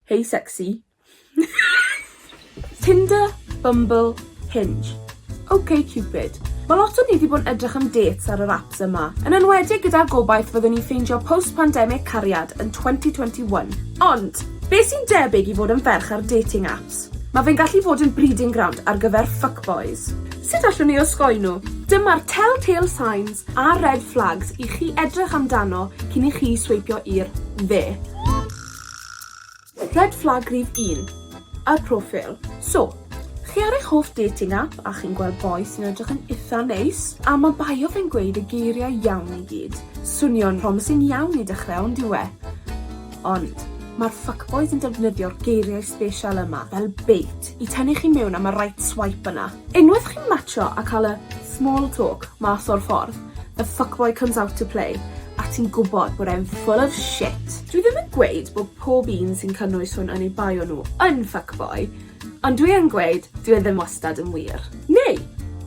Hey sexy. Tinder, Bumble, Hinge. Ok Cupid. Ma' lot o ni 'di bod yn edrych am dates ar yr apps yma, yn enwedig gyda'r gobaith fyddwn ni'n ffeindio post pandemic cariad yn twenty twenty one. Ond, be' sy'n debyg i fod yn ferch ar dating apps? Ma' fe'n gallu fod yn breeding ground ar gyfer fuckboys. Sut allwn ni osgoi nhw? Dyma'r tell-tale signs a red flags i chi edrych amdano cyn i chi sweipio i'r dde. Red flag rif un. Y profil. So, chi ar eich hoff dating app a chi'n gweld boi sy'n edrych yn itha neis, a ma' bio fe'n gweud y geiriau iawn i gyd. Swnio'n promising iawn i dechrau on'd yw e? Ond, ma'r fuckboys yn defnyddio'r geiriau sbesial yma fel bait i tynnu chi mewn am y right swipe yna. Unwaith chi'n matsio a ca'l y small talk mas o'r ffordd, The fuckboy comes out to play a ti'n gwbod bod e'n full of shit. Dwi ddim yn gweud bod pob un sy'n cynnwys hwn oni bai o nhw yn fuckboy, ond dwi yn gweud dyw e ddim wastad yn wir. Neu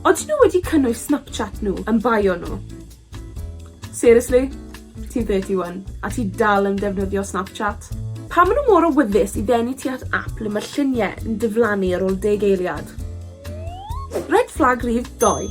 odyn nhw wedi cynnwys Snapchat nhw yn bai o nhw? Seriously? Ti'n thirty one a ti dal yn defnyddio Snapchat? Pam ma' nhw mor awyddus i ddenu ti at ap le ma' llunie yn diflannu ar ôl deg eiliad? Red flag rhif dou.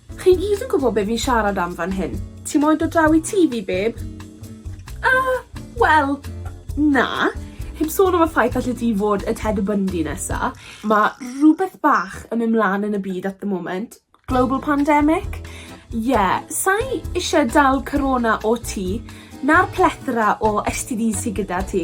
Chi gyd yn gwbo be fi'n siarad am fan hyn. Ti moyn dod draw i tŷ fi, babe? Yy, wel, na. Heb sôn am y ffaith allet ti fod y Ted Bundy nesa. Ma' rwbeth bach yn myn' mlan yn y byd at the moment. Global pandemic? Ie, sai isie dal Corona o ti, na'r plethora o STDs sy gyda ti.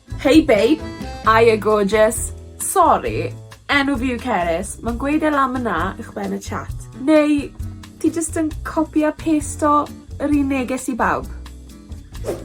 Hey babe! Aye gorgeous! Sori, enw fi yw Cerys, ma'n gweud e lan mna uwchben y chat. Neu ti jyst yn copi a pasto yr un neges i bawb?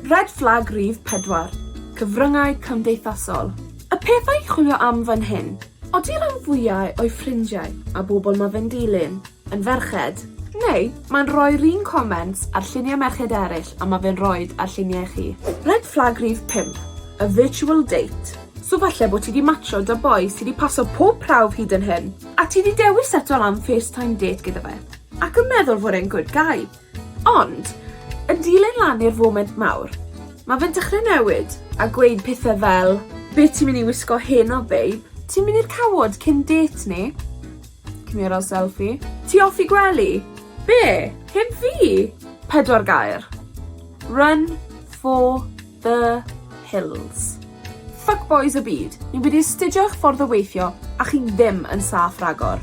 Red flag rif pedwar, cyfryngau cymdeithasol. Y peth ai'n chwilio am fan hyn. Odi rhan fwyau o'i ffrindiau a bobl ma fe'n dilyn yn ferched? Neu mae'n rhoi'r un comments ar lluniau merched eraill a ma fe'n rhoid ar lluniau chi? Red flag rhif pump, a virtual date. So falle bo ti di matsio da boi sy di paso pob prawf hyd yn hyn, a ti di dewis seto lan face time date gyda fe, ac yn meddwl fod e'n good guy, Ond, yn dilyn lan i'r foment mawr, ma' fe'n dechre newid a gweud pethe fel Be' ti myn' i wisgo heno babe? Ti'n myn' i'r cawod cyn dêt ni? Cymerodd selfie. Ti off i gwely? Be'? Heb fi? Pedwar gair. Run for the hills. Fuckboys y byd, ni wedi astudio eich ffordd o weithio a chi ddim yn saff ragor.